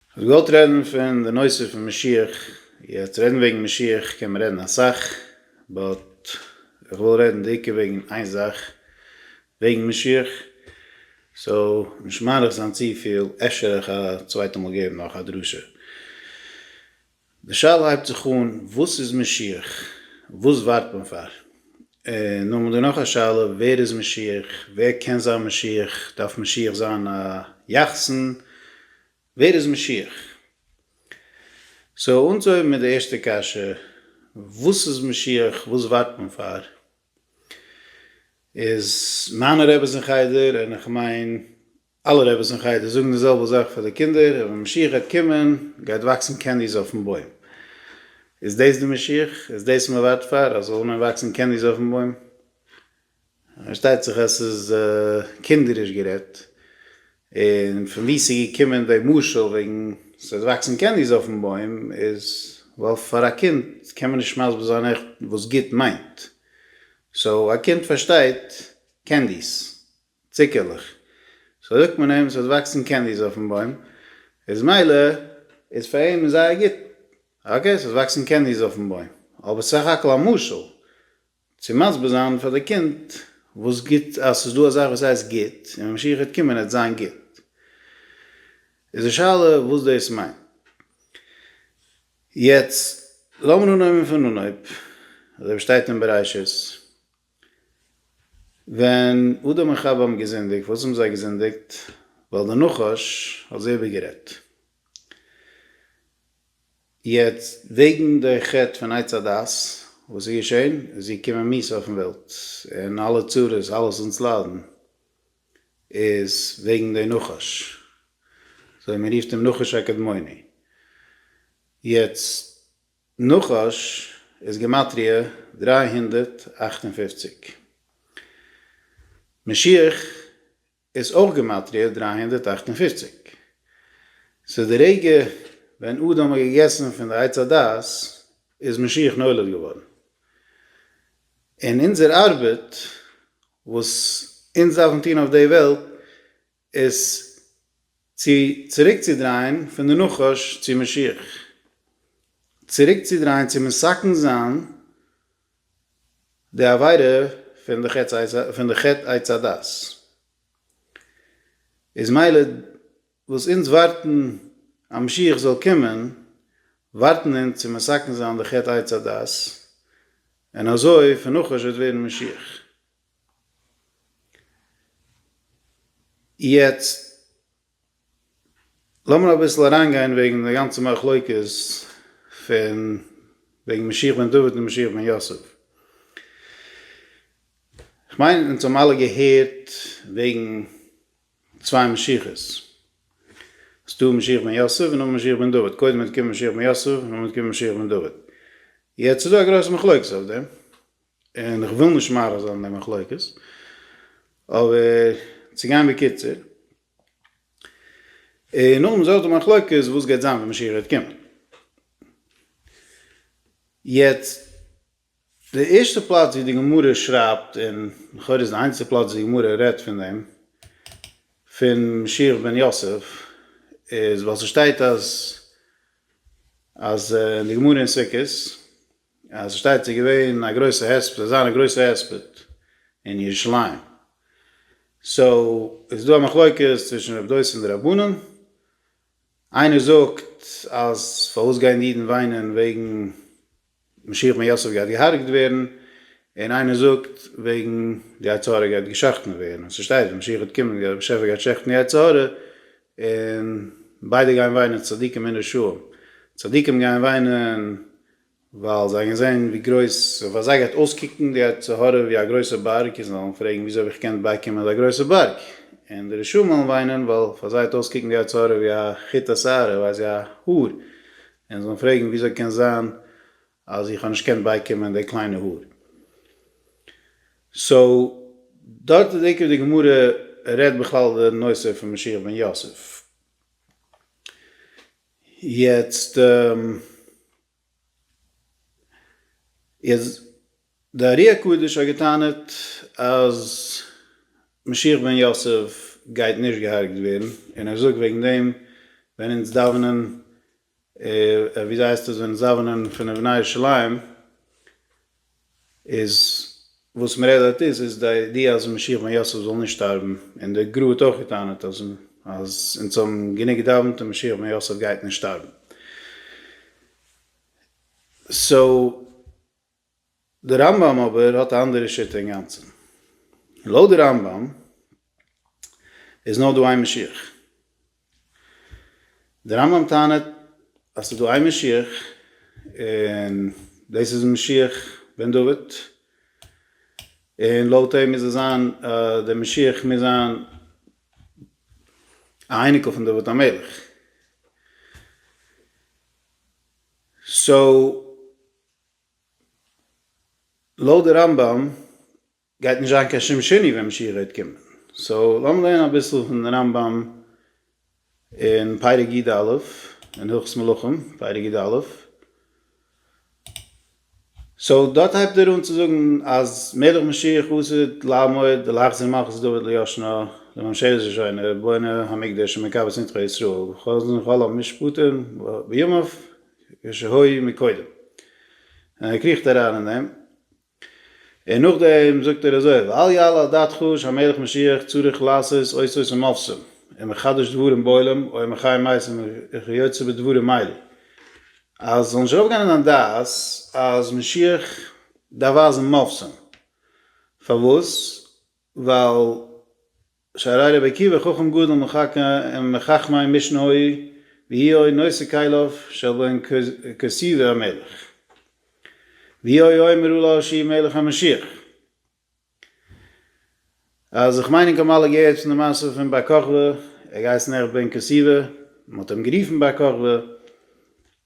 כ'האב געוואלט רעדן פון די נושא פון משיח, יעצט רעדן וועגן משיח קען מען רעדן אסאך, באט איך וויל רעדן די עיקר וועגן איין זאך וועגן משיח, סאו נישט מאריך זיין צופיל, אפשר איך א צווייטע מאל געבן נאך א דרשה. די שאלה הייבט זיך אן, וואס איז משיח? וואס ווארט מען פאר? און נאכדעם איז דא נאך א שאלה, ווער איז משיח? ווער קען זיין משיח? דארף משיח זיין א יחסן? ווער איז משיח? סאו אנצוהויבן מיט די ערשטע קשיא, וואס איז משיח? וואס ווארט מען פאר? איז מיינע רעבעס אין חדר, און איך מיין אלע רביס אין חדר זאגן די זעלבע זאך פאר די קינדער, אז ווען משיח גייט קומען גייט וואקסן קענדיס אויפן בוים. איז דאס די משיח? איז דאס מען ווארט פאר? אז זאלן וואקסן קענדיס אויפן בוים? פארשטייט זיך אז ס'איז קינדעריש גערעדט. און פון וואו ס'איז געקומען די משל וועגן ס'וועט וואקסן קענדיס אויפן בוים איז ווייל פאר א קינד קען מען נישט מסביר זיין עכט וואס גוט מיינט. סאו א קינד פארשטייט קענדיס צוקערלעך. סאו זאגט מען אים ס'וועט וואקסן קענדיס אויפן בוים, איז מילא איז פאר אים זייער גוט, אקעי ס'וועט וואקסן קענדיס אויפן בוים, אבער סך הכל א משל צו מסביר זיין פאר די קינד וואס גוט, אז ס'איז דא א זאך וואס הייסט גוט, און ווען משיח וועט קומען וועט זיין גוט. איז די שאלה וואס דאס מיינט. יעצט לאמיר אנהויבן פון אנהויב, אזוי ווי שטייט אין בראשית. ווען אדם און חוה האבן געזינדיגט, פארוואס האבן זיי געזינדיגט? ווייל דער נחש האט זיי איבערגערעדט. יעצט וועגן די חטא פון עץ הדעת, וואס איז געשען? עס איז געקומען מיתה אויפן וועלט, און אלע צרות, אלעס וואס אונז ליידן, איז וועגן די נחש. סוי מ'רופט אים נחש הקדמוני. יעצט. נחש איז גימטריא דרײַ הונדערט אַכט און פֿופֿציק. משיח איז אויך גימטריא דרײַ הונדערט אַכט און פֿופֿציק. סאו די רגע ווען אדם האט געגעסן פון די עץ הדעת איז משיח נולד געווארן. און אונזער ארבעט וואס אונז דארפן טון אויף די וועלט איז צו צוריקצודרייען פון די נחש צו משיח, צוריקצודרייען צו מסכן זיין די עבירה פון די חטא עץ הדת, איז מילא וואס אונז ווארטן אז משיח זאל קומען, ווארטן אונז צו מסכן זיין די חטא עץ הדת, און אזוי פון נחש וועט ווערן משיח. יעצט לאמיר אביסל אריינגיין וועגן די גאנצע מחלוקת פון וועגן משיח בן דוד און משיח בן יוסף. כ'מיין אונז האבן אלע געהערט וועגן צוויי משיח'ס. ס'דא משיח בן יוסף און נאכדעם משיח בן דוד. קודם האט געקומען משיח בן יוסף און נאכדעם האט געקומען משיח בן דוד. יעצט איז דא א גרויסע מחלוקת אויף דעם. און איך וויל נישט מאריך זיין אין די מחלוקת, אבער צו גיין בקיצור, און נאכדעם איז אויך די מחלוקת וואס גייט זיין ווען משיח גייט קומען. יעצט, די ערשטע פלאץ ווי די גמרא שרייבט, און לכאורה איז די איינציגסטע פלאץ וואס די גמרא רעדט פון דעם, פון משיח בן יוסף, איז ווייל ס'שטייט אז, אז אין די גמרא אין סוכות, אז ס'שטייט ס'איז געווען א גרויסע הספד, ס'זאל זיין א גרויסע הספד אין ירושלים, סאו איז דא א מחלוקת צווישן רב דוסים די רבנים, איינער זאגט אז פארוואס גייען די אידן וויינען וועגן משיח בן יוסף גייט געהארגט ווערן, און איינער זאגט וועגן די יצר הרע גייט געשחט'ן ווערן, און ס'שטייט ווען משיח וועט קומען דער באשעפער גייט שחט'ן די יצר הרע, און ביידע גייען וויינען צדיקים און רשעים, צדיקים גייען וויינען. ווייל זיי האבן געזען ווי גרויס פאר זיי גייט אויסקוקן די יצר הרע ווי א גרויסע בארג, און זיי וועלן פרעגן וויאזוי האב איך געקענט בייקומען אזא גרויסע בארג, און די רשעים וועלן וויינען ווייל פאר זיי האט אויסקוקן די יצר הרע ווי א חוט השערה, ווייס איך א האר, און זיי וועלן פרעגן וויאזוי קען זיין אז איך האב נישט געקענט בייקומען די קליינע האר. סאו דארט איז עיקר די גמרא רעדט בכלל די נושא פון משיח בן יוסף. יעצט איז די ארי הקדוש האט געטענה'ט אז משיח בן יוסף גייט נישט געהארגט ווערן, און ער זאגט וועגן דעם ווען אונז דאווענען וויאזוי הייסט עס ווען אונז דאווענען פון אבני ירושלים, איז וואס מען רעדט דארט איז איז די אז משיח בן יוסף זאל נישט שטארבן, און די גרא האט אויך געטענה'ט אז אז אונז האבן גענוג געדאווענט און משיח בן יוסף גייט נישט שטארבן. סאו די רמב ם אבער האט א אנדערע שיטה אינגאנצן. לויט די רמב ם איז נאר דא איין משיח. די רמב ם טענה'ט אז ס'איז דא איין משיח און דאס איז משיח בן דוד, און לויט אים מוז עס זיין אז דער משיח מוז זיין א אייניקל פון דוד המלך, סאו לויט די רמב ם. גייט נישט זיין קיין שום שני ווען משיח גייט קומען, סאו לאמיר לערנען אביסל פון רמב ם אין פרק י ד אין הלכות מלכים פרק י ד, סאו דארט הייבט ער אן צו זאגן אז מלך משיח עתיד לעמוד ולהחזיר מלכות דוד ליושנה לממשלת ראשונה בונה המקדש ומקבץ נדחי ישראל וחוזר כל המשפטים בימיו כשהיה מקודם, און ער קריכט אריין אין דעם. און נאכדעם זאגט ער אזוי ואל יעלה על דעתך שהמלך משיח צריך לעשות אותות ומופתים און מחדש דברים בעולם או מחי מתים וכיוצא בדברים האלה אז זאל נישט ארויפגיין אין דיין דעת אז משיח דארף ווייזן מופתים פארוואס ווייל שהרי רבי עקיבא חכם גדול מחכמי משנהוי והיאוי נושא כליו של בן כסיבא המלך והיאוי אומר אולי שהי' מלך המשיח אז איך מיין ענק האבן אלע געהערט פון די מעשה פון בר כוכבא ער האט געהייסן עכט בן כסיבא מען האט אים גערופן בר כוכבא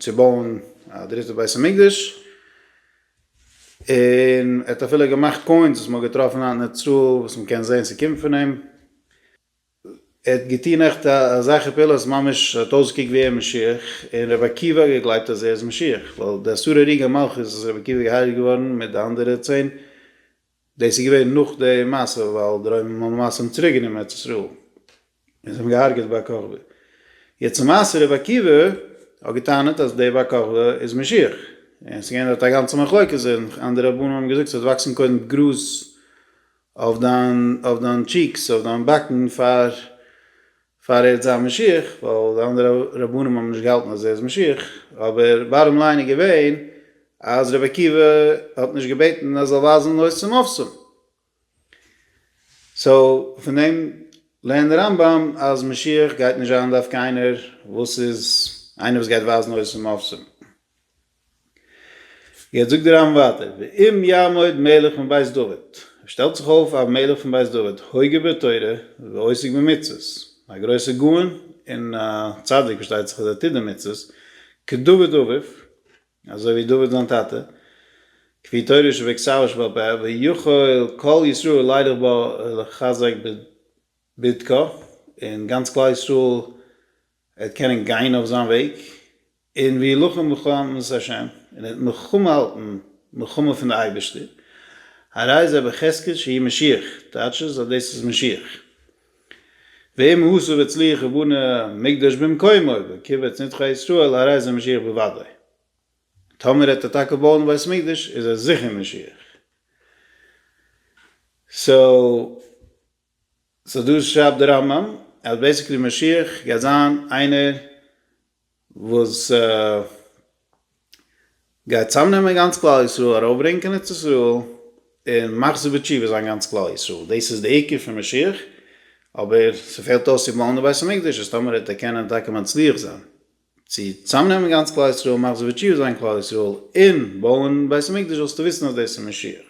צו בויען א דריטע בית המקדש, און ער האט אפילו געמאכט קוינס וואס מען האט געטראפן היינט אין איצטראל וואס מען קען זען ס'קומט פון אים, ער האט געטון עכט אזעלכע פעולות ממש ער האט אויסגעקוקט ווי ער משיח, און רבי עקיבא האט געגלייבט אז ער איז משיח, ווייל די עשרה רגעי מלכות איז רבי עקיבא געהייראט געווארן מיט די אנדערע צען דאס איז געווען נאך די מעשה ווייל די רוימער האבן למעשה אים צוריק גענומען ארץ ישראל און זיי האבן אים געהארגעט בר כוכבא. יעצט צום מעשה רבי עקיבא האט געטענה'ט אז דער בר כוכבא איז משיח און עס איז געווען דארט א גאנצע מחלוקת און אנדערע רבנים האבן געזאגט ס'וועט וואקסן קודם גראז אויף דיין אויף דיין טשיקס אויף דיין באקן פאר פאר ער האט זיין משיח, ווייל די אנדערע רבנים האבן נישט געהאלטן אז ער איז משיח, אבער בארם ליין איז געווען אז רבי עקיבא האט נישט געבעטן אז ער זאל ווייזן נאר צום אפסום, סאו פון דעם לערנט דער רמב ם אז משיח גייט נישט זיין דווקא איינער וואס איז איינער וואס גייט ווייזן נאר צום אפסום. יעצט זאגט די רמב ם ווייטער, ואם יעמוד מלך מן בית דוד, שטעלט זיך אויף א מלך פון בית דוד, הוגה בתורה ועוסק במצוות, א גרויסער גאון און א צדיק פארשטייט זיך אז ער טוט די מצוות, כדוד אביו, אזוי ווי דוד זיין טאטע, כפי תורה שבכתב שבעל פה, ויכול כל ישראל לילך בו ולחזק בדרכו, און גאנץ כלל ישראל וועט קענען גיין אויף זיין וועג, און ווי לוחם מלחמת השם, און ער האט מלחמה האלטן מלחמה פון די אייבערשטער, הרי זה בחזקת שהי' משיח, טייטש עס אז דאס איז משיח, ואם הוסיף הצליח ובנה מקדש במקומו וקבץ נדחי ישראל הרי זה משיח בוודאי, טאמער העט ער טאקע בויען א בית מקדש איז ער זיכער משיח, סאו. סאו דא שרייבט די רמב ם אז בעסיקלי משיח גייט זיין איינער וואס גייט צאמנעמען גאנץ כלל ישראל, ארויפברענגען קיין ארץ ישראל, און מחזיר בתשובה זיין גאנץ כלל ישראל, דאס איז די עיקר פון משיח, אבער ס'פעלט אויס צו בויען די בית המקדש, אז טאמער העט ער קענען טאקע מצליח זיין. צו צוזאמנעמען גאנץ כלל ישראל, מאך זיי וטשיו זיין כלל ישראל, און בויען בית המקדש זאלסטו וויסן אז דאס איז משיח.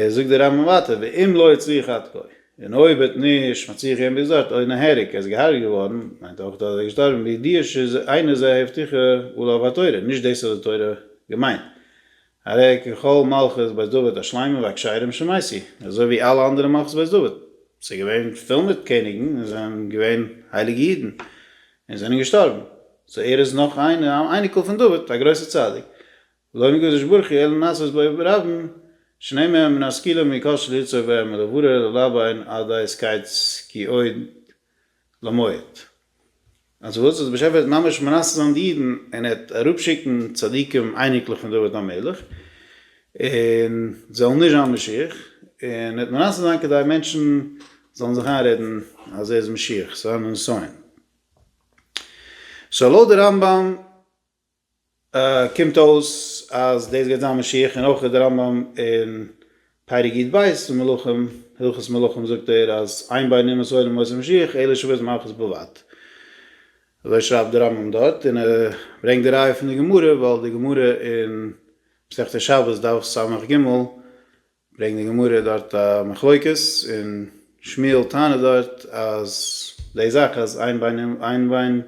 זאגט דער רמב ם ווייטער, ואם לא הצליח עד כה, און אויב וועט נישט מצליח געווען ביז דארט, אוי נהרג, ער איז געהארגעט געווארן, מיינט אויך דאס אז ער איז געשטארבן בידיעה שאינה זו ההבטחה ולא אויף א תורה, נישט דאס האט די תורה געמיינט, הרי ככל מלכות בית דוד השלימה והכשרים שמעשי, אזוי ווי אלע אנדערע מלכות בית דוד, ס'איז געווען פול מיט קעניגן און זיי זענען געווען הייליגע אידן און זענען געשטארבן, סאו ער איז נאך איינער א אייניקל פון דוד, א גרויסער צדיק, לא נקדש ברכי אלא נעשית בו ברבים, שני מהם מן השכילים מי קשה ליצור בהם אלא ברר ללבן עד דאיז קייט סקי עוד. למועט. אז וואס? אז דער באשעפער וועט ממש מנסה זיין די אידן און ער וועט אראפשיקן צדיקים אייניקלעך פון דוד המלך און זיי זאלן נישט זיין משיח און ער וועט מנסה זיין כדי מענטשן זאלן זיך איינרעדן אז ער איז משיח, ס'וועט זיין א נסיון. סאו לויט די רמב ם. קומט אויס אז דאס גייט זיין משיח, און אויך איז דער רמב ם אין פרק י ט בית און מלכים, הלכות מלכים זאגט ער אז איין ביין אין מסורה און מוסר משיח אלא שוויז מלכות בלבד, אזוי שרייבט דער רמב ם דארט, און ער ברענגט די ראיה פון די גמרא, ווייל די גמרא אין מסכת שבת דף סג ג ברענגט די גמרא דארט א מחלוקת, און שמואל טענה'ט דארט אז די זאך אז איין ביין און איין ביין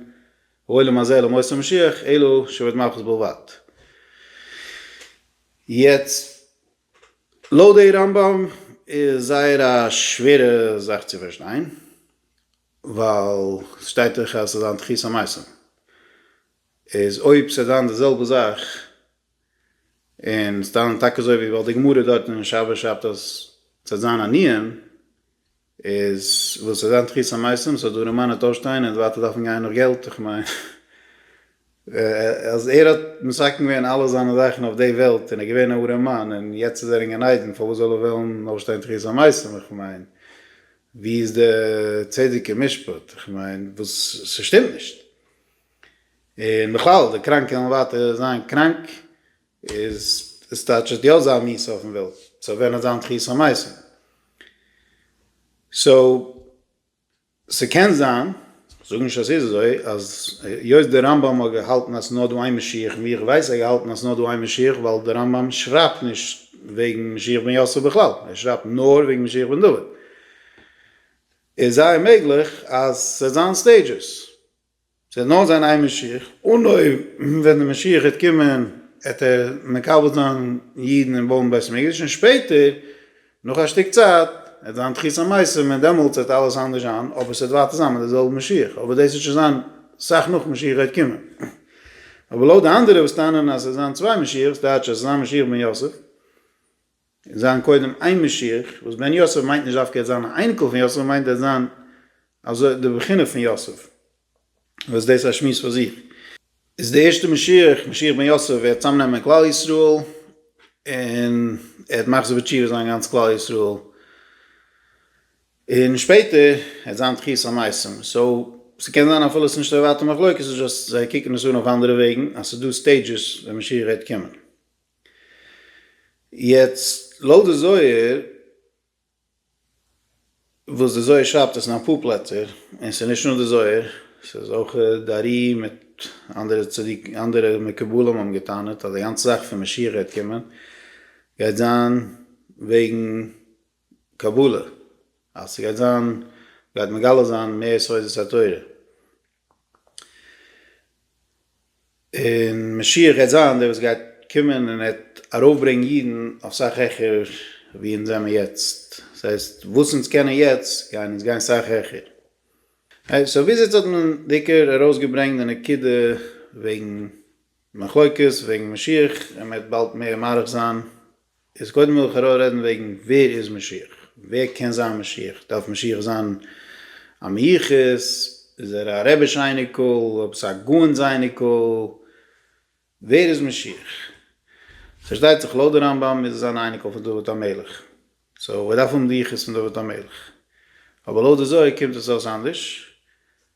העולם הזה למות המשיח אלא שבט מלכות בלבד. יעצט לויט די רמב ם איז זייער א שווערע זאך צו פארשטיין, ווייל ס'שטייט דאך אז ס'זאל זיין תחית המתים, איז אויב ס'דאן די זעלבע זאך און סתם טאקע אזוי ווי ווייל די גמרא דארט אין שבת שרייבט אז ס'וועט זיין עניים, איז וואס ס'וועט זיין תחית המתים, סאו דא רעמאן האט אויפשטיין און ווייטער דארפן גיין נאך געלט, איך מיין אז ער האט מסכם געווען אלע זיינע זאכן אויף די וועלט און ער איז געווען א ארעמאן און יעצט איז ער אין גן עדן פארוואס זאל ער וועלן אויפשטיין תחית המתים, איך מיין ווי איז די צדק און משפט, איך מיין וואס ס'שטימט נישט. און בכלל די קראנקע וועלן ווייטער זיין קראנק איז עס טייטש עס וועט יא זיין מיסה אויפן וועלט סאו ווען עס זיין תחית המעשה סאו ס'קען זיין זאג נישט אז ס'איז אזוי אז היות די רמב ם האט געהאלטן אז ס'איז נאר דא איין משיח און ווי איך ווייס האט ער געהאלטן אז ס'איז נאר דא איין משיח ווייל די רמב ם שרייבט נישט וועגן משיח בן יוסף בכלל ער שרייבט נאר וועגן משיח בן דוד איז זייער מעגליך אז ס'וועט זיין סטעידזשעס. ס'וועט נאר זיין איין משיח, און אויב ווען די משיח וועט קומען העט ער מקבל זיין אידן און בויען בית המקדש, און שפעטער נאך א שטיק צייט העט זיין תחית המתים און דעמאלטס העט אלעס אנדערש זיין, אבער ס'וועט ווייטער זיין מיט די זעלבע משיח, אבער דאס וועט שוין זיין סאך נאך משיח העט קומען. אבער לויט די אנדערע וואס טענה'ן אז ס'וועט זיין צוויי משיח'ס, דייטש אז ס'זיין משיח בן יוסף, זיין קודם איין משיח, וואס בן יוסף מיינט נישט דווקא ער וועט זיין א אייניקל פון יוסף, מיינט ער וועט זיין אזוי די בחינה פון יוסף, וואס דאס איז א שמועס פאר זיך, איז די ערשטע משיח, משיח בן יוסף, וועט צוזאם נעמען כלל ישראל, און ער וועט מחזיר בתשובה זיין גאנץ כלל ישראל, און שפעטער וועט זיין תחיית המתים, סאו ס'קען זיין אפילו ס'איז נישט א ווייטע מחלוקת, ס'איז דזשאסט זיי קוקן עס אן אויף אנדערע וועגן, אז ס'איז דא סטעידזשעס ווען משיח וועט קומען. יעצט לויט די זוהר, וואס די זוהר שרייבט עס אין אפאר פלעצער, און ס'איז נישט נאר די זוהר, ס'איז אויך די ארי מיט אנדערע צדיקים, אנדערע מקובלים האבן גע'טענה'ט אז די גאנצע זאך פון משיח גייט קומען, גייט זיין וועגן קבלה, אז ס'גייט זיין, גייט מגלה זיין מער סודות התורה, און משיח גייט זיין דער וואס גייט קומען און ער וועט ארויפברענגן אידן אויף סאך העכער ווי אונז זעמער יעצט, דאס הייסט וואס אונז קענען יעצט גייען אונז גיין סאך העכער. אקעי, סאו ביז יעצט האט מען בעיקר ארויסגעברענגט די נקודה וועגן מחלוקת וועגן משיח, און מ'וועט באלד מער מאריך זיין, איז קודם וויל איך ארא רעדן וועגן ווער איז משיח? ווער קען זיין משיח? דארף משיח זיין א מיוחס? איז ער א רבי'ש אייניקל? עפעס א גאון'ס אייניקל? ווער איז משיח? פארשטייט זיך לויט די רמב ם איז ער אן אייניקל פון דוד המלך, סאו ער דארף האבן די יחוס פון דוד המלך, אבער לויט די זוהר קומט עס אויס אנדערש,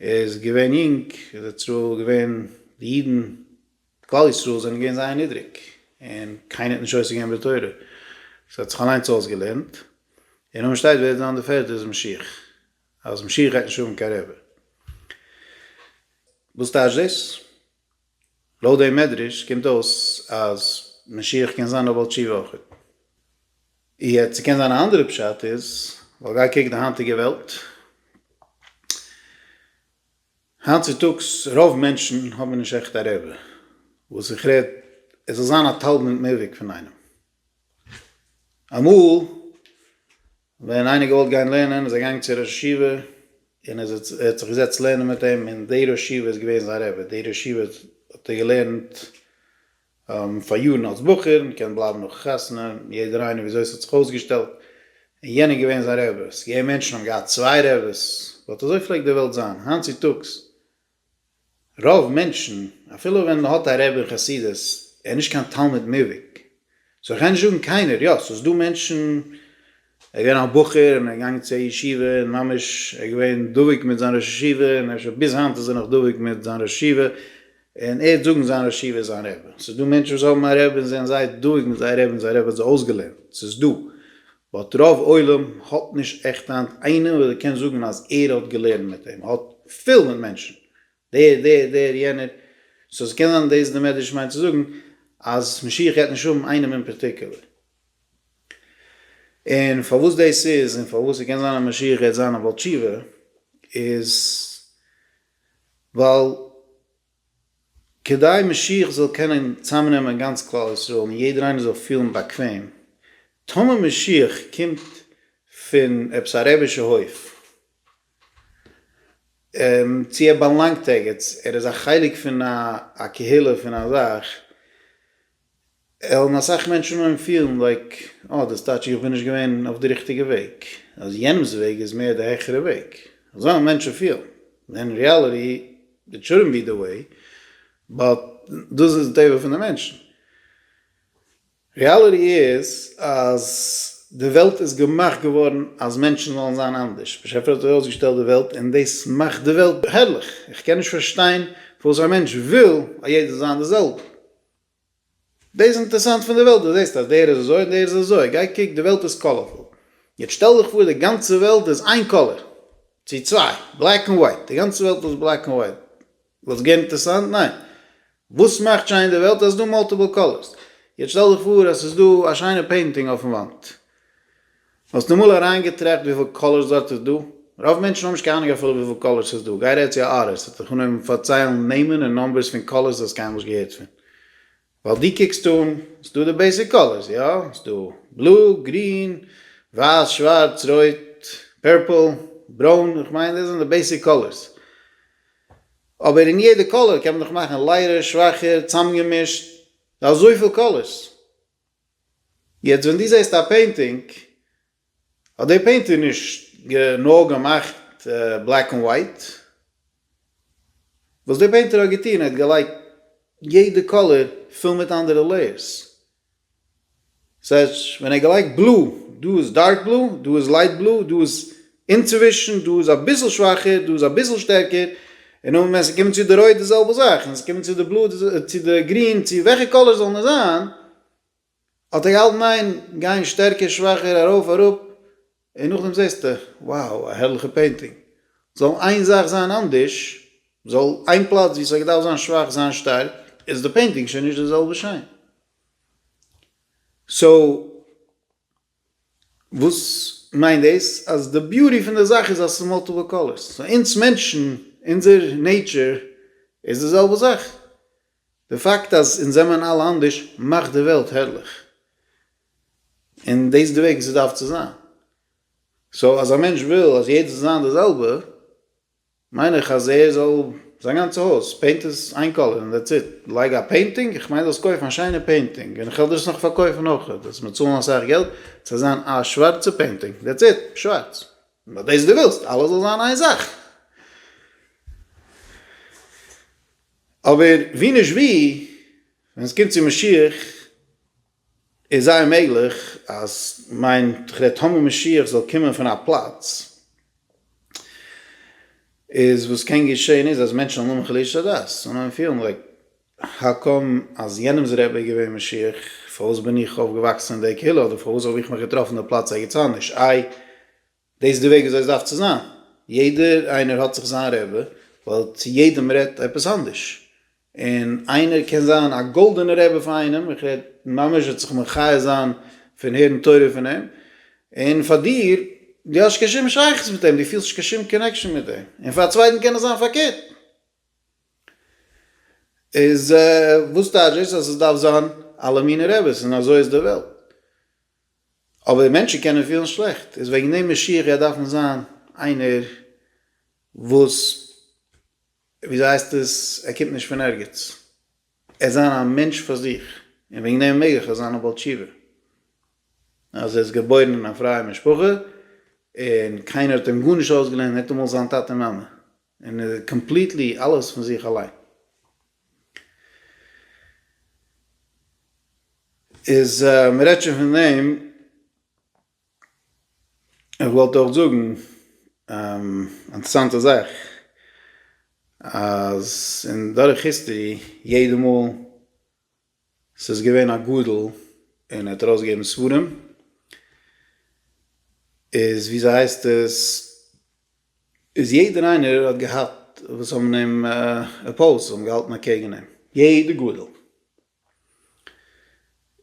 ער איז געווען יונג, איז ער צו געווען די אידן כלל ישראל זענען געווען זייער נידריג און קיינער האט נישט עוסק געווען בתורה, עס האט זיך אליינס אויסגעלערנט, און אויב מען שטייט ווער וועט זיין די פערטע איז משיח, אז משיח גייט נישט האבן קיין רבי. וואס טייטש דאס? לויט דעם מדרש קומט אויס אז משיח קען זיין א בעל תשובה אויכעט. יעצט ס'קען זיין א אנדערע פשט איז, ווייל גיי קוק די היינטיגע וועלט, היינט צוטאגס רוב מענטשן האבן נישט עכט א רבי, וואס איך רעד עס זאל זיין א תלמיד מובהק פון איינעם. אמאל ווען איינער האט געוואלט גיין לערנען איז ער געגאנגען צו א ראש ישיבה און ער האט זיך געזעצט לערנען מיט אים און דער ראש ישיבה איז געווען זיין רבי, דער ראש ישיבה האט ער געלערנט פאר יארן אלס בחור, מען קען בלייבן נאך חתונה, יעדער איינער וויאזוי ס'האט זיך אויסגעשטעלט, און יענער איז געווען זיין רבי, ס'איז געווען מענטשן האבן געהאט צוויי רבי'ס, באט אזוי פלעגט די וועלט זיין, היינט צוטאגס רוב מענטשן, אפילו ווען מען האט א רב אין חסידות, איז ער נישט קיין תלמיד מובהק. סאו איך גיי נישט זאגן קיינער, יא, ס'איז דא מענטשן, ער איז געווען א בחור און ער איז געגאנגען צו א ישיבה און ממש ער איז געווען דבוק מיט זיין ראש ישיבה און אפשר ביז היינט איז ער נאך דבוק מיט זיין ראש ישיבה און ער האט זאגן זיין ראש ישיבה איז זיין רבי. ס'איז דא מענטשן וואס האבן א רב און זענען זייער דבוק מיט זייער רבי און זייער רבי האט זיי אויסגעלערנט. ס'איז דא. באט רוב עולם האט נישט עכט היינט איינעם וואס ער קען זאגן אז ער האט געלערנט מיט אים, האט פיל מיט מענטשן דער דער דער יענער, סאו ס'קען זיין דאס איז די מדרש מיינט צו זאגן אז משיח גייט נישט האבן איינעם אין פארטיקולער, און פארוואס דאס איז און פארוואס ס'קען זיין אז משיח גייט זיין א בעל תשובה איז ווייל. כדי משיח זאל קענען צאמנעמען גאנץ כלל ישראל און יעדער איינער זאל פילן באקוועם, טאמער משיח קומט פון עפעס א רעבישע הויף, צו ער באלאנגט ערגעץ, ער איז א חלק פון א קהילה פון א זאך, האבן אסאך מענטשן אנגעהויבן פילן לייק אה דאס טייטש איך בין נישט געווען אויף די ריכטיגע וועג, אז יענעמ'ס וועג איז מער די העכערע וועג, אזוי האבן מענטשן פילן, ווען אין ריאליטי איט שודנט בי די וועי, באט דאס איז די טבע פון די מענטשן, ריאליטי איז אז די וועלט איז געמאכט געווארן אז מענטשן זאלן זיין אנדערש, באשעפער האט ארויסגעשטעלט די וועלט און דאס מאכט די וועלט הערליך, איך קען נישט פארשטיין פארוואס א מענטש וויל אז יעדער זאל זיין די זעלבע. דאס איז אינטערסאנט פון די וועלט, דו זעסט אז דער איז אזוי און דער איז אזוי, גיי קוק, די וועלט איז קאלערפול. יעצט שטעל דיך פאר די גאנצע וועלט איז איין קאלער, צו צוויי, בלעק און ווייט, די גאנצע וועלט איז בלעק און ווייט, וואלט עס געווען אינטערסאנט? ניין. וואס מאכט שיין די וועלט? אז ס'איז דא מאלטיפל קאלערס. יעצט שטעל דיך פאר אז ס'איז דא א שיינע פעינטינג אויפן וואנט. האסט אמאל אריינגעטראכט וויפיל קאלער סארט איז דא? רוב מענטשן האבן נישט קיין אהנונג אפילו וויפיל קאלער ס'איז דא, גיי רעד צו א ארטיסט וועט דיך אנהויבן פארציילן נעמען און נאמבערס פון קאלערס דו האסט קיינמאל נישט געהערט פון, ווייל דו קוקסט אן, ס'דא די בעיסיק קאלערס, יא, ס'דא בלו, גרין, ווייס, שווארץ, רויט, פערפל, ברוין, איך מיין דאס זענען די בעיסיק קאלערס, אבער אין יעדע קאלער קען מען דאך מאכן לייערער, שוואכער, צאמגעמישט, דא אזויפיל קאלערס, יעצט ווען דו זעסט א פעינטינג, האט דער פעינטער נישט נאר געמאכט בלעק ענד ווייט, וואס דער פעינטער האט געטון, ער האט געלייגט יעדע קאלער פול מיט אנדערע לעיערס. ס'הייסט ווען ער האט געלייגט בלו, דא איז דארק בלו, דא איז לייט בלו, דא איז אינצווישן, דא איז אביסל שוואכער, דא איז אביסל שטערקער, און נאכדעם ווען ס'קומט צו די רויט די זעלבע זאך, און ס'קומט צו די בלוי צו די גרין צו וועלכע קאלער זאל נאר זיין, האט ער געהאלטן ניין, גיין שטערקער שוואכער ארויף אראפ, און נאכדעם זעסטו, wow, א הערליכע פעינטינג, זאל איין זאך זיין אנדערש, זאל איין פלאץ ווי ס'האט געדארפט זיין שוואך זיין שטארק, איז די פעינטינג שוין נישט די זעלבע שיין. סאו. וואס מיינט דאס? אז די ביוטי פון די זאך איז אז ס'איז מאלטיפעל קאלערס. סאו אונז מענטשן, אונזער נעיטשער איז די זעלבע זאך. די פאקט אז אונז זעמען אלע אנדערש מאכט די וועלט הערליך. און דאס איז די וועג ווי ס'דארף צו זיין. סאו אז א מענטש וויל אז יעדער זאל זיין די זעלבע. מיין איך אז ער זאל זיין גאנצע הויז פעינט עס איין קאלער און דעטס איט, לייג א פעינטינג, איך מיין זאלסט קויפן א שיינע פעינטינג און איך וועל דיר עס נאך פארקויפן אויך, דו זאלסט מיר צאלן אסאך געלט ס'זאל זיין א שווארצע פעינטינג דעטס איט, שווארץ, נאר דאס דו ווילסט אלעס זאל זיין איין זאך. אבער ווי נישט ווי ווען עס קומט צו משיח איז זייער מעגליך אז מיין תחילת המה משיח זאל קומען פון א פלאץ איז וואס קען געשען איז אז מענטשן זאלן האבן חלישות הדעת זאלן אנהייבן פילן לייק האו קאם אז יענעמס רבי איז געווען משיח פארוואס בין איך אויפגעוואקסן אין די קהילה אדער פארוואס האב איך מיך געטראפן די פלאץ ערגעץ אנדערש איי דאס איז די וועג וויאזוי עס דארף צו זיין, יעדער איינער האט זיך זיין רבי, ווייל צו יעדעם רעדט עפעס אנדערש, און איינער קען זיין א גאלדענע רבי פאר איינעם, איך רעד ממש וועט זיך מחי' זיין פון הערן תורה פון אים, און פאר דיר, דו האסט נישט קיין שום שייכות מיט אים, דו פילסט נישט קיין שום קאנעקשאן מיט אים, און פאר א צווייטן קען עס זיין פארקערט. איז וואס טייטש דאס אז עס דארף זיין אלע מיני רביס און אזוי איז די וועלט? אבער מענטשן קענען פילן שלעכט, איז וועגן דעם משיח גייט דארפן זיין איינער וואס וויאזוי הייסט עס ער קומט נישט פון ערגעץ, ער איז זיין א מענטש פאר זיך, און וועגן דעם מעג איך זיין א בעל תשובה, אז ער איז געבוירן אין א פרייע משפחה, און קיינער האט אים גארנישט אויסגעלערנט, ניטאמאל זיין טאטע מאמע. און קאמפליטלי אלעס פון זיך אליין איז מען רעדט שוין פון דעם איך וואלט אויך זאגן אינטערסאנטע זאך אז אין דורך היסטערי יעדע מאל ס'איז געווען א גדול און ער האט ארויסגעגעבן ספרים, איז ווי אזוי הייסט עס, איז יעדער איינער האט געהאט וואס האבן אים אפאוזט, האבן געהאלטן אקעגן אים, יעדע גדול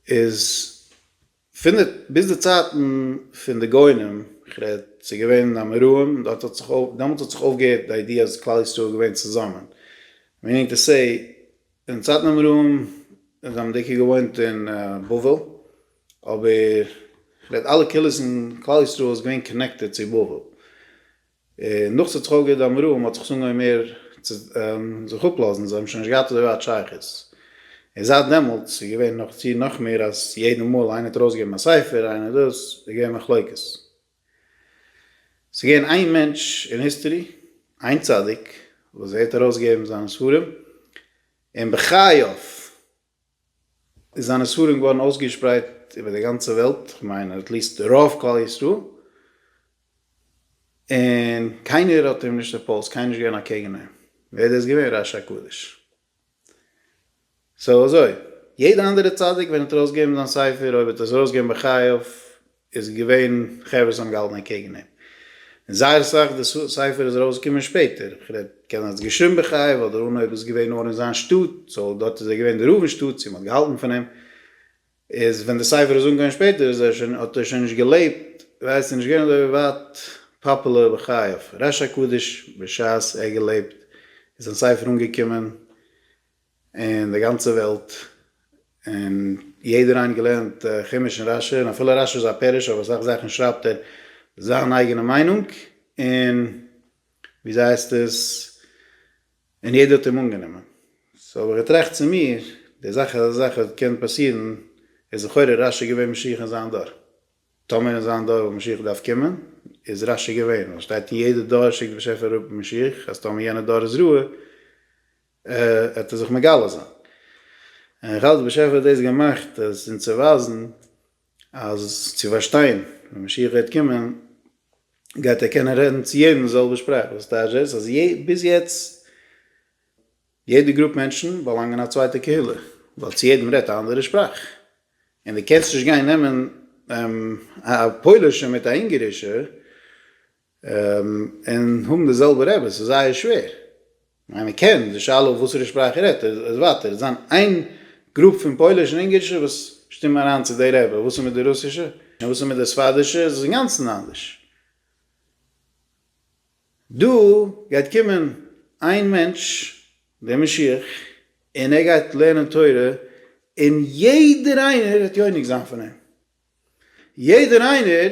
איז פון ביז די צייטן פון די גאונים, איך רעד ס'איז געווען אמוראים, דארט האט זיך אויף, דעמאלטס האט זיך אויפגעהערט די איידיע אז כלל ישראל איז געווען צוזאמען, מיענינג טו סעי, אין צייטן אמוראים זיי האבן דיקא געוואוינט אין בבל, אבער איך רעד אלע קהילות אין כלל ישראל איז געווען קאנעקטעד צו בבל, און נאך צו צחוק גערעדט עמרם האט זיך שוין געווען מער צו זיך אפלאזן זיי האבן שוין נישט געהאט אזוי ווייט שייכות און זייט דעמאלטס איז געווען נאך צו נאך מער אז יעדע מאל איינער האט ארויסגעגעבן א ספר איינער דאס איז געווען מחלוקת. ס'איז געווען איין מענטש אין היסטערי איין צדיק וואס ער האט ארויסגעגעבן זיינע ספרים און בחייו איז זיינע ספרים געווארן אויסגעשפרייט איבער די גאנצע וועלט, איך מיין עט ליסט רוב כלל ישראל, און קיינער האט אים נישט אפאוזט, קיינער איז נישט געווען אקעגן אים, ווער דאס געווען? ר' אשר קדוש. סאו אזוי, יעדע אנדערע צדיק ווען עט ארויסגעבן זיין ספר, אויב עט עס ארויסגעבן בחייו, עס איז געווען חברה וואס האבן געהאלטן אנטקעגן אים, און זייער אסאך, די ספר איז ארויס געקומען שפעטער, איך רעד, קען האט עס געשריבן בחייו, ווייל דער אנהויב איז געווען נאר אין זיין שטאט, סאו דארט איז ער געווען דער רב אין שטאט, צו מען האט געהאלטן פון אים, איז ווען די ספר איז אנגעקומען שפעטער איז ער שוין, האט ער שוין נישט געלעבט, ווייסט ער נישט געווען אזוי ווייט פאפולער בחייו, ר' הקדוש בשעת ער האט געלעבט איז זיין ספר אנגעקומען, און די גאנצע וועלט, און יעדער איינער געלערנט חומש און רשי, און אפילו רשי זיין פירוש אויף אסאך זאכן שרייבט ער זיין אייגענע מיינונג, און וויאזויהייסטעס, און יעדער האט אים אנגענומען, סאו האב איך געטראכט צו מיר, די זאך אז אזא זאך וועט קען פאסירן, איז לכאורה רשי געווען משיח אין זיין דור, טאמער אין זיין דור וואלט משיח געדארפט קומען, איז רשי געווען, ווייל סשטייט אין יעדע דור שיקט די באשעפער אראפ משיח, אז טאמער יענע דור איז רעה, ער טאר זיך מגלה זיין. און איך האלט דער באשעפער האט דאס געמאכט אז אונז צו ווייזן אז צו פארשטיין ווען משיח גייט קומען גייט ער קענען רעדן צו יעדן די זעלבע שפראך וואס טייטש דאס אז ביז יעצט יעדע גרופ מענטשן באלאנגען א צווייטע קהילה ווייל צו יעדן רעדט א אנדערע שפראך און די קענסט נישט גיין נעמען א פוילישע מיט א אונגערישע און האבן די זעלבע רבי, ס'איז זייער שווער. ווען איינער קען די שאלה אויף וואסערע שפראך ער רעדט, איז ווייטער, וועט זיין איין גרופ פון פויליש און אונגערישע וואס שטימען אריין צו די רבי, וואס איז מיט די רוסישע? און וואס איז מיט די ספרדישע? עס איז אינגאנצן אנדערש. דא גייט קומען איין מענטש, דער משיח, און ער גייט לערנען תורה, און יעדער איינער וועט יונק זיין פון אים. יעדער איינער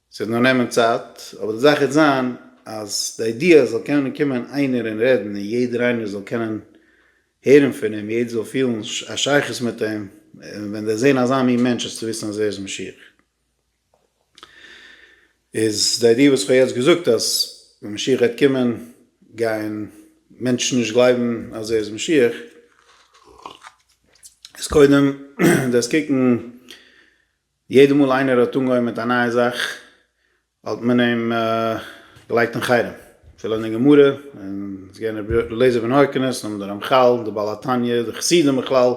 ס'וועט נאר נעמען צייט, אבער די זאך וועט זיין אז די איידיע זאל קענען קומען איינער און רעדן און יעדער איינער זאל קענען הערן פון אים, יעדער זאל פילן א שייכות מיט אים ווען דערזען אזא מין מענטש איז צו וויסן אז ער איז משיח. איז די איידיע וואס כ'האב יעצט געזאגט אז ווען משיח וועט קומען גייען מענטשן נישט גלייבן אז ער איז משיח, איז קודם דארפסט קוקן יעדע מאל איינער האט אנגעהויבן מיט א נייע זאך האט מען אים געלייגט אין חרם, אפילו אין די גמרא, און ס'איז געווען רבי אלעזר בן הורקנוס, נאכדעם די רמחל, די בעל התניא, די חסידים בכלל,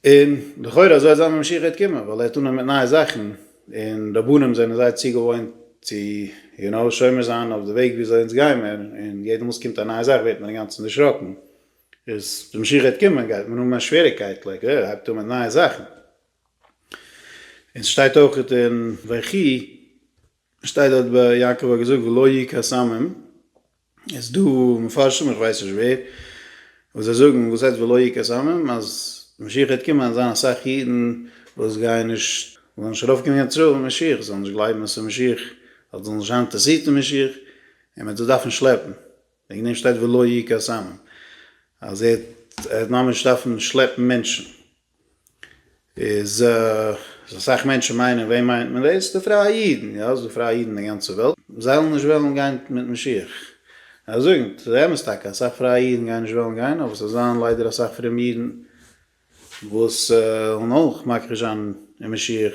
און לכאורה אזוי האט זיין משיחיות קומען, ווייל ער האט אנגעהויבן מיט נייע זאכן, און רבנים זענען זייער צוגעוואוינט צו יו נאו שומר זיין אויף די וועג ווי אזוי אונז גיימער, און יעדע מאל ס'קומט א נייע זאך ווערט מען אינגאנצן דערשראקן. איז די משיח גייט קומען גייט מען האבן א שוועריקייט לייק אה הייבט אן מיט נייע זאכן און סשטייט אויך אין ויחי שטייט דארט ביי יעקב האט געזאגט ולא יהי' קאסמים איז דא מפרשים איך ווייס נישט ווער וואס זיי זאגן וואס הייסט ולא יהי' קאסמים אז משיח גייט קומען אז זיין אסאך אידן וואס גייען נישט זאלן נישט ארויף קומען קיין צרור משיח זאלן נישט גלייבן אז ס'איז משיח ווייל זיי זאלן נישט זיין אינטערסירט אין משיח און מען וועט זיי דארפן שלעפן. וועגן דעם שטייט ולא יהי' קאסאמים אז ער וועט ממש דארפן שלעפן מענטשן, איז אסאך מענטשן מיינען וועם מיינט מען דאס? די פרייע אידן, יא ס'איז דא פרייע אידן אין די גאנצע וועלט, זיי זאלן נישט וועלן גיין מיט משיח, ער זאגט ס'איז אמת טאקע אסאך פרייע אידן גייען נישט וועלן גיין אבער ס'וועט זיין ליידער אסאך פרומע אידן וואס וועלן אויך מכחיש זיין אין משיח,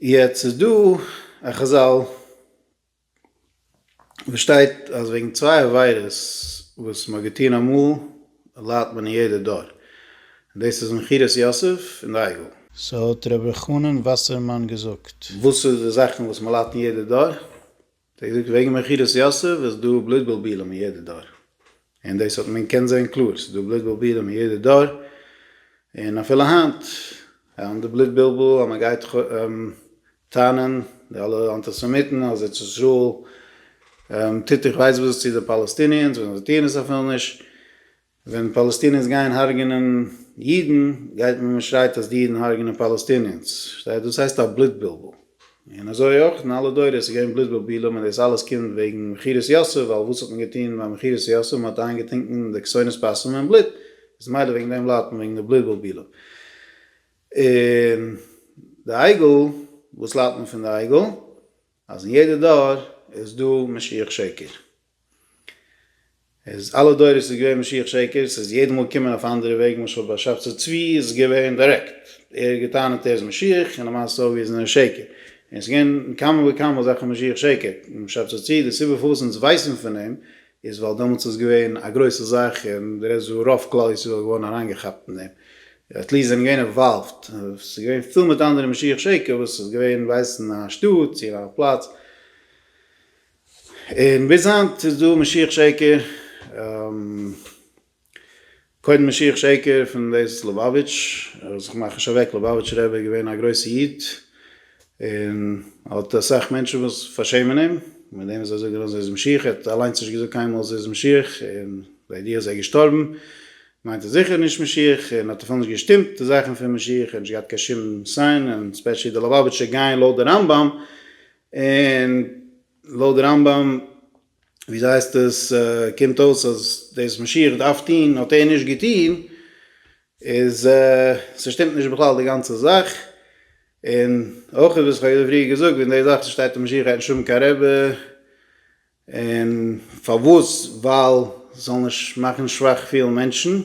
יעצט איז דא א חזל וואס שטייט אז וועגן צוויי עבירות וואס מ'האט געטון אמאל ליידט מען אין יעדע דור, דאס איז מכירת יוסף און די עגל. ס'האט ר' אלחנן וואסערמאן געזאגט. וואס איז די זאכן וואס מ'ליידט אין יעדע דור? זיי זאגט וועגן מכירת יוסף איז דא בלוט בלבולים אין יעדע דור, און דאס האט מען קען זען קלאר, ס'איז דא בלוט בלבולים אין יעדע דור, און אפילו היינט אהן די בלוט בלבול אז מען גייט טענה'ן די אלע אנטיסעמיטן אז ארץ ישראל טוט איך ווייס וואס צו די פאלעסטיניענס ווען זיי טוען עס אפילו נישט, ווען פאלעסטינערס גייען הרג'נען אידן גייט מען מען שרייט אז די אידן הרג'נען פאלעסטינערס, פארשטייט דאס הייסט א בלוט בלבול, און אזוי אויך אין אלע דורות איז געווען בלוט בלבולים און דאס אלעס קומט וועגן מכירת יוסף ווייל וואס האט מען געטון ביי מכירת יוסף מען האט איינגעטינקן די כסונת פסים אין בלוט איז מילא וועגן דעם ליידט מען וועגן די בלוט בלבולים און די עגל וואס ליידט מען פון די עגל אז אין יעדע דור איז דא משיח שקר. איז אלע דורות איז געווען משיח שקר, ס'איז יעדע מאל געקומען אויף א אנדערע וועג, למשל ביי שבתי צבי איז עס געווען דירעקט, ער האט געטענה'ט ער איז משיח און למעשה אויב איז נאר שקר, און עס איז געווען כמה וכמה אזעלכע משיח שקר, און שבתי צבי די סיבה פארוואס אונז ווייסן פון אים איז ווייל דעמאלטס איז געווען א גרויסע זאך און די רעדסט וואו רוב כלל ישראל איז געווארן אריינגעכאפט אין דעם, עטליעסט זענען געווען אינוואלווד, עס איז געווען פול מיט אנדערע משיח שקר וואס איז געווען ווייסן א שטאט צו א פלאץ. און ביז היינט איז דא משיח שקר, קודם משיח שקר פון דאס ליובאוויטש, ער זיך מאך נישט אוועק, ליובאוויטש רבי איז געווען א גרויסע איד, און האט אסאך מענטשן וואס פארשעמען אים, מיט דעם וואס זיי זאגען אז ער איז משיח, ער האט אליינס נישט געזאגט קיינמאל אז ער איז משיח, און ביי די אז ער איז געשטארבן, מיינט ער זיכער נישט משיח, און האט אפילו נישט געשטימט די זאכען פון משיח, ער האט נישט געהאט קיין שום סיין, און ספעשעלי די ליובאוויטשער גייען לויט די רמב ם, און לויט רמב ם ווי אזוי הייסט עס קומט אויס אז דאס וואס משיח דארף טוהן האט ער נישט געטוהן, איז ס'שטימט נישט בכלל די גאנצע זאך, און אויך וואס איך האב פריער געזאגט וועגן די זאך וואס שטייט אז משיח גייט נישט האבן קיין רבי, און פארוואס? ווייל ס'זאל נישט מאכן שוואך פילן מענטשן,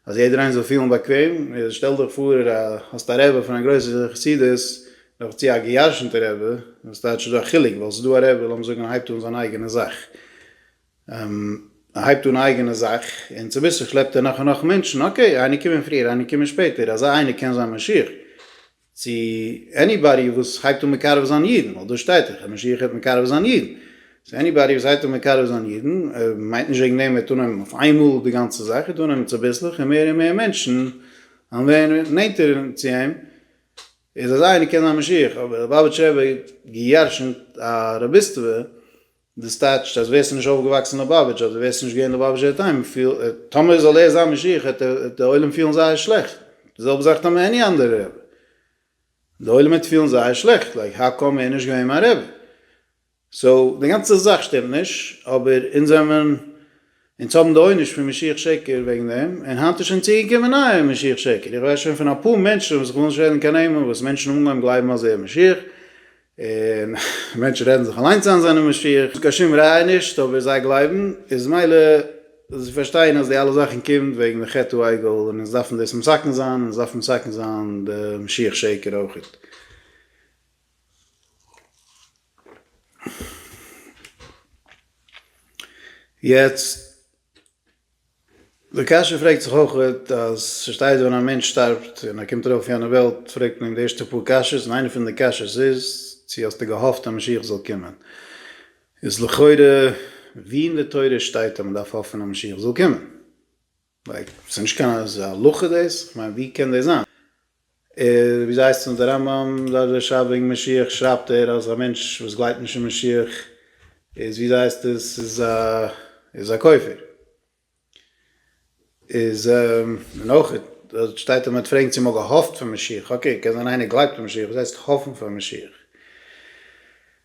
אז יעדער איינער זאל פילן באקוועם, שטעל דיך פאר האסט א רבי פון א גרויסע חסידות, נאך צו א געיארשענטע רבי, וואס טייטש איז דא א חילוק, ווייל ס'איז דא א רבי לאמיר זאגן ער הייבט אן זיין אייגענע זאך, ער הייבט אן א אייגענע זאך, און צוביסלעך שלעפט ער נאך און נאך מענטשן, אקעי איינער קומען פריער איינער קומען שפעטער, אזא איינער קען זיין משיח, צו עניבאדי וואס הייבט אן מקרב זיין אידן, ווייל דא שטייט דאך אז משיח הייבט מקרב זיין אידן, סאו עניבאדי וואס הייבט אן מקרב זיין אידן, מיינט נישט וועגן דעם ער וועט אננעמען אויף איינמאל די גאנצע זאך, ער וועט אננעמען צוביסלעך און מער און מער מענטשן וועלן ווערן נענטער צו אים, איז אזא איינער קען זיין משיח, אבער ליובאוויטש רבי האט גע'ירש'נט א רביסטווע. דאס טייטשט אז ווערסטו נישט אויפגעוואקסן אין לאבאוויטש אדער ווערסטו נישט געווען לאבאוויטשער טעם פיל טאמער זאל ער זיין משיח העט די עולם פילן זייער שלעכט די זעלבע זאך טאמער עני אנדערע רבי די עולם העט פילן זייער שלעכט לייק האו קאם ער איז נישט געווען מיין רבי סאו די גאנצע זאך שטימט נישט אבער אונז זעמער אונז האבן די עונש פון משיח שקר וועגן דעם, און היינט איז שוין צוגעקומען נייער משיח שקר, איך ווייס שוין פון אפאר מענטשן וואס איך וויל נישט רעדן קיין נעמען וואס מענטשן האבן אנגעהויבן גלייבן אז ער איז משיח, און מענטשן רעדן זיך אליינס איין זיינע משיח, קיין שום ראיה נישט אבער זיי גלייבן, איז מילא זיי פארשטייען אז די אלע זאכן קומט וועגן די חטא העגל און אונז דארפן דאס מסכן זיין, און אונז דארפן מסכן זיין די משיח שקר אויכעט. יעצט די קשיא פרעגט זיך אויכעט אז ס'שטייט ווען א מענטש שטארבט און ער קומט ארויף אויף יענע וועלט פרעגט מען אים די ערשטע פאר קשיות און איינע פון די קשיות איז צו האסטו געהאפט אז משיח זאל קומען איז לכאורה ווי אין די תורה שטייט אז מ'דארף האפן אז משיח זאל קומען? לייק, ס'איז נישט קיין אזא הלכה דאס, כ'מיין ווי קען דאס זיין? ווי ס'הייסט אין די רמב ם דף וואס ער שרייבט וועגן משיח שרייבט ער אז א מענטש וואס גלייבט נישט אין משיח איז ווי ס'הייסט עס איז א איז א כופר. איז און אויך דארט שטייט אז מ'האט פרעגן צו מ'האט געהאפט פון משיח, אקעי קען זיין איינער גלייבט אין משיח, וואס הייסט האפן פאר משיח?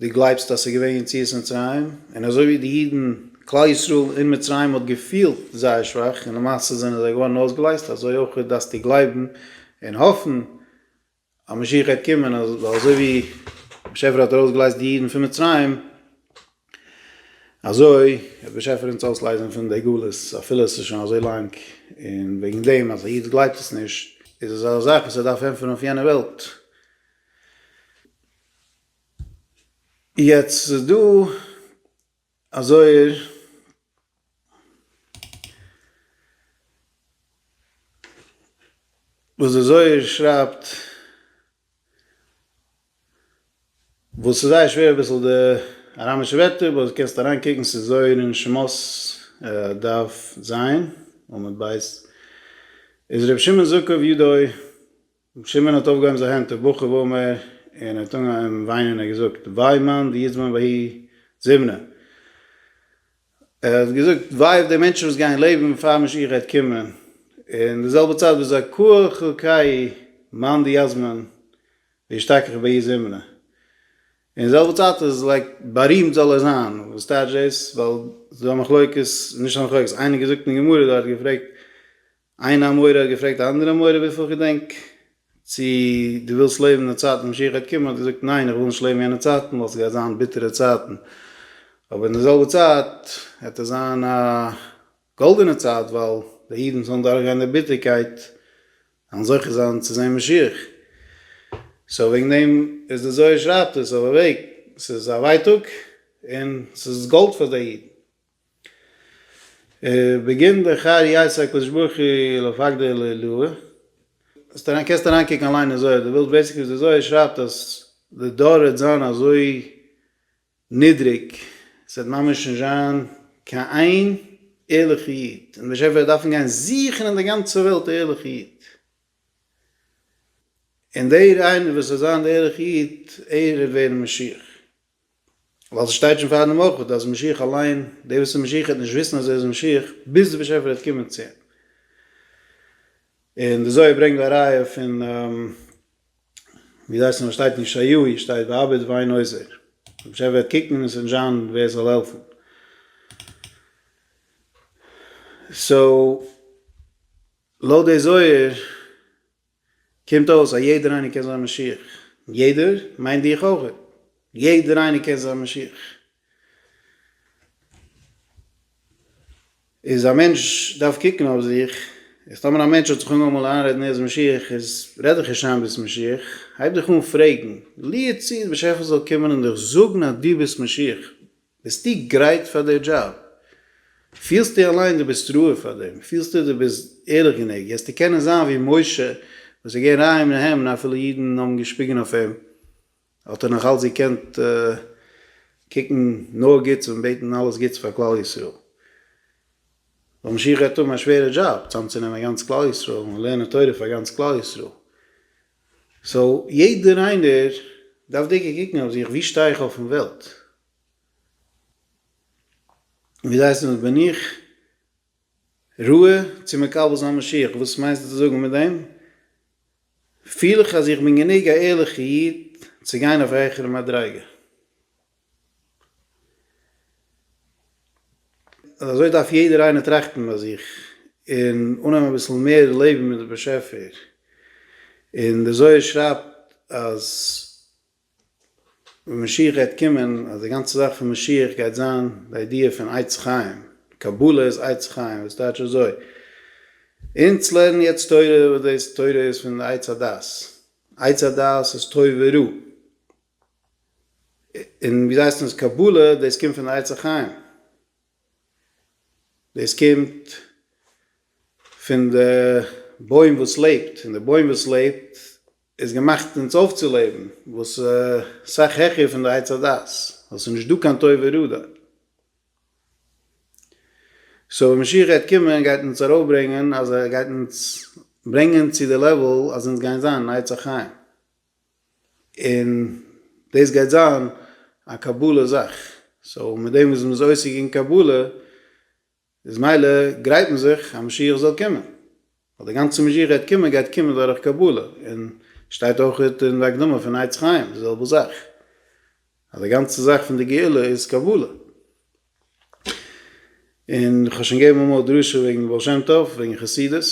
דו גלייבסט אז ס'איז געווען יציאת מצרים, און אזוי ווי די אידן, כלל ישראל אין מצרים האט געפילט זייער שוואך און למעשה זענען זיי געווארן אויסגעלייזט, אזוי אויך דארפסטו גלייבן און האפן אז משיח גייט קומען, ווייל אזוי ווי באשעפער האט ארויסגעלייזט די אידן פון מצרים, אזוי וועט באשעפער אונז אויסלייזן פון די גלות, אפילו עס איז שוין אזוי לאנג, און וועגן דעם אז א איד גלייבט עס נישט, איז עס א זאך וואס ער דארף ענטפערן אויף יענע וועלט. יעצט איז דא א זוהר וואס די זוהר שרייבט וואס איז זייער שווער אביסל די אראמישע ווערטער באט קענסט אריין קוקן ס'איז זוהר אין שמות דף ז עמוד ב איז ר' שמעון זאב קאב יודוי רבי שמעון האט אויפגעהויבן זיין הענט ובכה ואומר, און ער האט אנגעהויבן וויינען און ער האט געזאגט, וויי מאן דיזמן והי' זימנה, ער האט געזאגט, וויי אויף די מענטשן וואס גייען לעבן פאר משיח גייט קומען, און די זעלבע צייט וואס זיי קוה ח קאי מאן דיזמן וישתכח בהי' זימנה, און די זעלבע צייט איז לייק בארימט זאל ער זיין, וואס טייטש דאס, ווייל ס'איז דא א מחלוקת, נישט א מחלוקת, איינער האט געזאגט אין גמרא דארט, געפרעגט, איין אמורא האט געפרעגט א אנדערע אמורא וויפיל איך געדענק, צו דו ווילסט לעבן אין די צייטן ווען משיח גייט קומען, האט ער געזאגט ניין איך וויל נישט לעבן יענע צייטן ווייל ס'גייט זיין ביטערע צייטן, אבער אין די זעלבע צייט העט עס זיין א גאלדענע צייט ווייל די אידן וואס וועלן דורכגיין די ביטערקייט וועלן זוכה זיין צו זען משיח, סאו וועגן דעם איז די זוהר שרייבט עס אויף א וועג, ס'איז א ווייטאג און ס'איז גאלד פאר די אידן. בגין די חי יעשה הקדוש ברוך הוא לפקדי לעילאה, זאלסט אריין קענסט אריין קוקן אליין אין זוהר דו ווילסט, בעיסיקלי די זוהר שרייבט אז די דור וועט זיין אזוי נידריג עס וועט ממש נישט זיין קיין איין ערליכע איד און די באשעפער וועט דארפן גיין זוכן אין די גאנצע וועלט א ערליכע איד, און דער איינער וואס וועט זיין די ערליכע איד ער וועט ווערן משיח. ווייל ס'שטייט שוין פאר דעם אויך אז משיח אליין, דער וואס איז משיח וועט נישט וויסן אז ער איז משיח ביז דער באשעפער וועט קומען צו אים. און די זוהר ברענגט א ראיה פון ווי דאס הייסט נאר שטייט אין ישעיהו איר שטייט באבד ואין עוזר, דער באשעפער וועט קוקן און עס וועט נישט זיין ווער עס זאל העלפן. סאו לויט די זוהר. קומט אויס אז יעדער איינער קען זיין משיח. יעדער מיינט דיך אויכעט. יעדער איינער קען זיין משיח. איז א מענטש דארף קוקן אויף זיך, איז טאמער א מענטש האט זיך אנגעהויבן מאל איינרעדן ער איז משיח איז רעד דיך נישט איין ביסט משיח, הייב דיך אן פרעגן ליעד צו די באשעפער זאל קומען און דיך זאגן אז דו ביסט משיח, ביסטו גרייט פאר די דזשאב? פילסטו אליין דו ביסט ראוי פאר דעם? פילסטו דו ביסט ערליך גענוג? וועסטו קענען זיין ווי משה וואס איז געווען ריין מן העם און אפילו אידן האבן געשפיגן אויף אים האט ער נאך אלץ געקענט קוקן נאר גוטס און בעטן אלעס גוטס פאר כלל ישראל? ווייל משיח גייט האבן א שווערע דזשאב, צאמצונעמען גאנץ כלל ישראל און לערנען תורה פאר גאנץ כלל ישראל. סאו יעדער איינער דארף דיקא קוקן אויף זיך, ווי שטיי איך אויפן וועלט? און ווי זעהט עס אויס? בין איך ראוי צו מקבל זיין משיח? וואס מיינסטו צו זאגן מיט דעם? פיל איך אז איך בין גענוג א ערליכע איד צו גיין אויף א העכערע מדריגה? אז אזוי דארף יעדער איינער טראכטן ביי זיך און אננעמען אביסל מער לעבן מיט די באשעפער, און די זוהר שרייבט אז ווען משיח גייט קומען אז די גאנצע זאך פון משיח גייט זיין די איידיע פון עצת חיים, קבלה איז עצת חיים וואס טייטש אזוי, אונז לערנען יעצט תורה וואס דאס תורה איז פון די עץ הדעת, עץ הדעת איז טוב ורע, און ווי זיי הייסן עס קבלה דאס קומט פון די עצי חיים דאס קומט פון די בוים וואס לעבט און די בוים וואס לעבט איז געמאכט אונז אויפצולעבן וואס איז סאך העכער פון די עץ הדעת ווייל ס'איז נישט דא קיין טוב ורע דארט. סאו ווען משיח גייט קומען גייט אונז ארויפברענגען אז ער גייט אונז ברענגען צו די לעוועל אז אונז גייען זיין עצי חיים. און דאס גייט זיין א קבלה זאך, סאו מיט דעם וואס מען איז עוסק אין קבלה איז מילא גרייט מען זיך אז משיח זאל קומען, ווייל די גאנצע משיח גייט קומען גייט קומען דורך קבלה, און שטייט אויך אין די הקדמה פון עץ חיים די זעלבע זאך, אז די גאנצע זאך פון די גאולה איז קבלה. און איך האב שוין געגעבן אמאל א דרשה וועגן די בעל שם טוב, וועגן חסידות,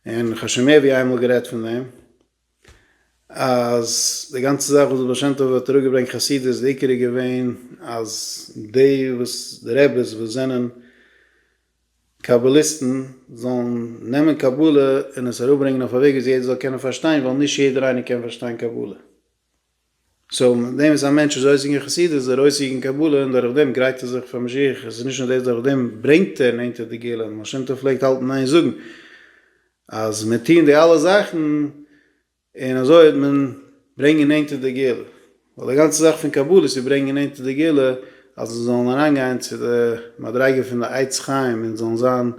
און איך האב שוין מער ווי איינמאל גערעדט פון דעם, אז די גאנצע זאך וואס די בעל שם טוב האט אראפ געברענגט חסידות די עיקר איז געווען אז די וואס די רעבעס וואס זענען קבלה'יסטן זאלן נעמען קבלה און עס אראפ ברענגען אויף א וועג ווי יעדער זאל קענען פארשטיין ווייל נישט יעדער איינער קען פארשטיין קבלה. סאו מיט דעם איז א מענטש איז אויסגעגאנגען חסידות איז ער אויסגעגאנגען קבלה און דורך דעם גרייט ער זיך פאר משיח, עס איז נישט נאר דאס דורך דעם ברענגט ער נענטער די גאולה, די בעל שם טוב פלעגט האלטן איין זאגן אז מיט טוהן די אלע זאכן און אזוי וועט מען ברענגען נענטער די גאולה, ווייל די גאנצע זאך פון קבלה איז צו ברענגען נענטער די גאולה אז אונז זאלן אריינגיין צו די מדריגה פון די עץ חיים אונז זאלן זיין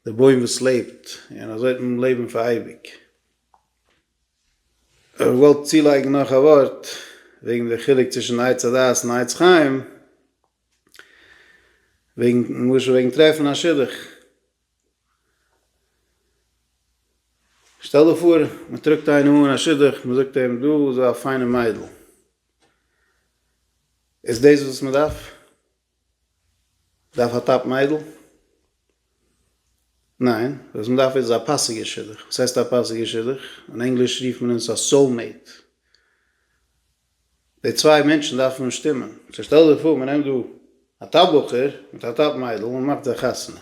די בוים וואס לעבט און אזוי וועט מען לעבן פאר אייביג. איך וואלט צולייגן נאך א ווארט וועגן די חילוק צווישן עץ הדעת און עץ חיים, וועגן למשל וועגן טרעפן א שידוך, שטעל דיר פאר מען טראגט איינעם אן א שידוך מען זאגט אים דא איז א פיינע מיידל, איז דאס וואס מען דארף? דארף א טאפ מיידל? ניין, וואס מען דארף איז א פאסיגע שידוך, וואס הייסט א פאסיגע שידוך? אין ענגליש רופט מען עס א סאול מעיט, די צוויי מענטשן דארפן שטימען, סאו שטעל דיך פאר מען נעמט דא א טאפ בחור מיט א טאפ מיידל און מען מאכט זיי חתונה,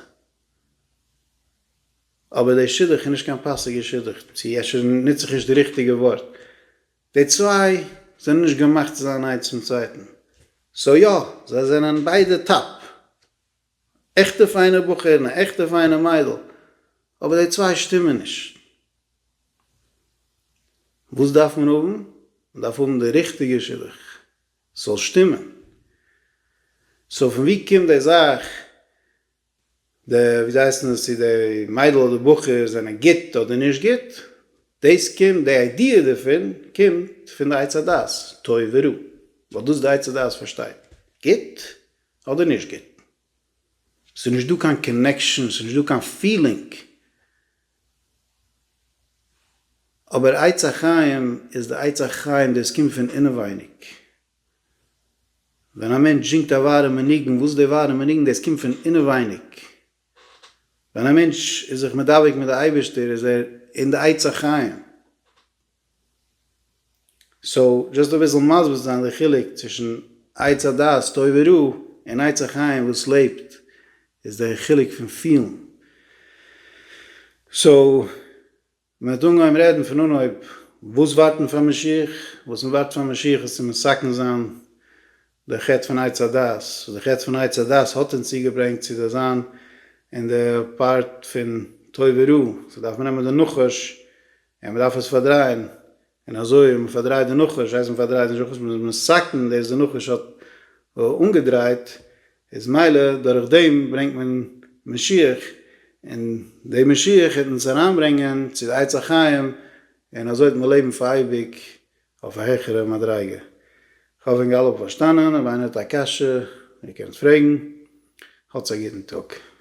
אבער די שידוך איז נישט קיין פאסיגע שידוך, צו אפשר נוץ איך נישט די ריכטיגע ווארט, די צוויי זענען נישט געמאכט צו זיין איינס צום צווייטן, סאו יא, זיי זענען ביידע טאפ, א עכטע פיינע בחור און א עכטע פיינע מיידל, אבער די צוויי שטימען נישט. וואס דארף מען האבן? מען דארף האבן די ריכטיגע שידוך ס'זאל שטימען. סאו פון וואו קומט די זאך די ווי זיי הייסן עס צו די מיידל אדער בחור זענען גוט אדער נישט גוט, דאס קומט די איידיע דערפון קומט פון די עץ הדעת טוב ורע, ווייל דאס די עץ הדעת פארשטייט גוט אדער נישט גוט, עס איז נישט דא קיין קאנעקשאן, עס איז נישט דא קיין פילינג, אבער עץ החיים איז די עץ החיים דאס קומט פון אינעווייניג. ווען א מענטש זינגט א ווארעמע ניגון, וואס איז די ווארעמע ניגון? דאס קומט פון אינעווייניג. ווען א מענטש איז זיך מדבק מיט די אייבערשטער איז ער אין די עצי חיים. סאו, דזשאסט אביסל מסביר צו זיין די חילוק צווישן עץ הדעת טוב ורע און עץ החיים וואס לעבט, איז די חילוק פון פילן. סאו. מען האט אנגעהויבן רעדן פון אנהויב וואס ווארטן פאר משיח, וואס מען ווארט פאר משיח איז צו מסכן זיין די חטא פון עץ הדעת, די חטא פון עץ הדעת האט אונז צוגעברענגט צו די זיין אין די פארט פון טוב ורע, סאו דארף מען נעמען די נחש און מען דארף עס פארדרייען און אזוי האט מען פארדרייט די נחש, הייסט מען פארדרייט נישט נחש, מען איז מסכן דאס די נחש האט אנגעדרייט, איז מילא דורך דעם ברענגט מען משיח, און די משיח העט אונז אריינברענגען צו די עץ החיים, און אזוי וועט מען לעבן פאר אייביג אויף א העכערע מדריגה. כ'האף ענק אלע האבן פארשטאנען, אויב איינער האט א קשיא, ער קען עס פרעגן. האטס א גוטן טאג.